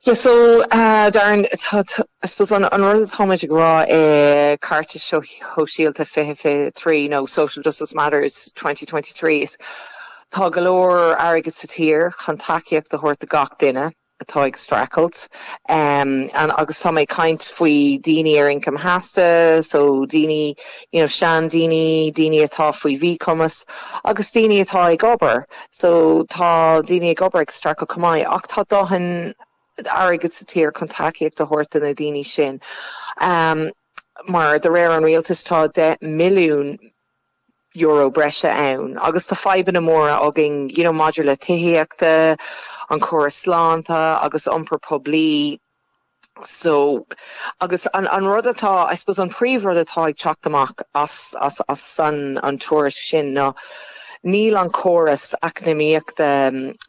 Yes so Darren I suppose an rud atáimid ag rá i gCúrsaí Ceartais Shóisialta fiche fiche trí nó Social Justice Matters twenty twenty three ná tá go leor airgid sa tír chun tacaíocht a thabhairt do gach duine atá ag streachailt em agus tá mé ag caint faoi daoine ar ioncam sheasta so daoine you know sean daoine, daoine atá faoi mhíchumas agus daoine atá ag obair. So tá daoine ag obair ag streachailt chomh maith ach tá dóthain airgid sa tír chun tacaíocht a thabhairt do na daoine sin. Mar de réir an rialtais tá €10 billiún breise ann agus tá fadhbanna móra againn you know maidir le tithíochta, an córas sláinte agus iompar poiblí. So, agus an rud atá, I suppose an príomhrud atá ag teacht amach as an tuairisc sin ná níl an córas eacnamaíochta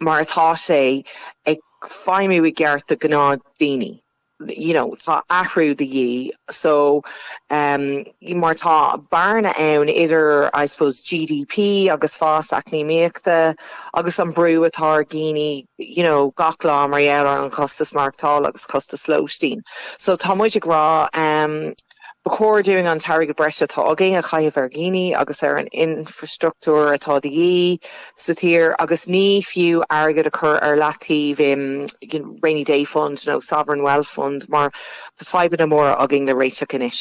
mar atá sé ag feidhmiú i gceart do ghnáthdhaoine. You know, tá athrú de dhíth. So, mar tá bearna ann idir I suppose GDP agus fás eacnamaíochta agus an brú atá ar dhaoine you know gach lá mar gheall ar an chostas maireachtála agus costas lóistín. So tá muid ag rá um, ba chóir dúinn an t-airgead breise atá againn a chaitheamh ar dhaoine agus ar an infrastruchtúr atá de dhíth sa tír agus ní fiú airgead a chur ar leataobh i rainy day fund nó sovereign wealth fund mar tá fadhbanna móra againn le réiteach anois.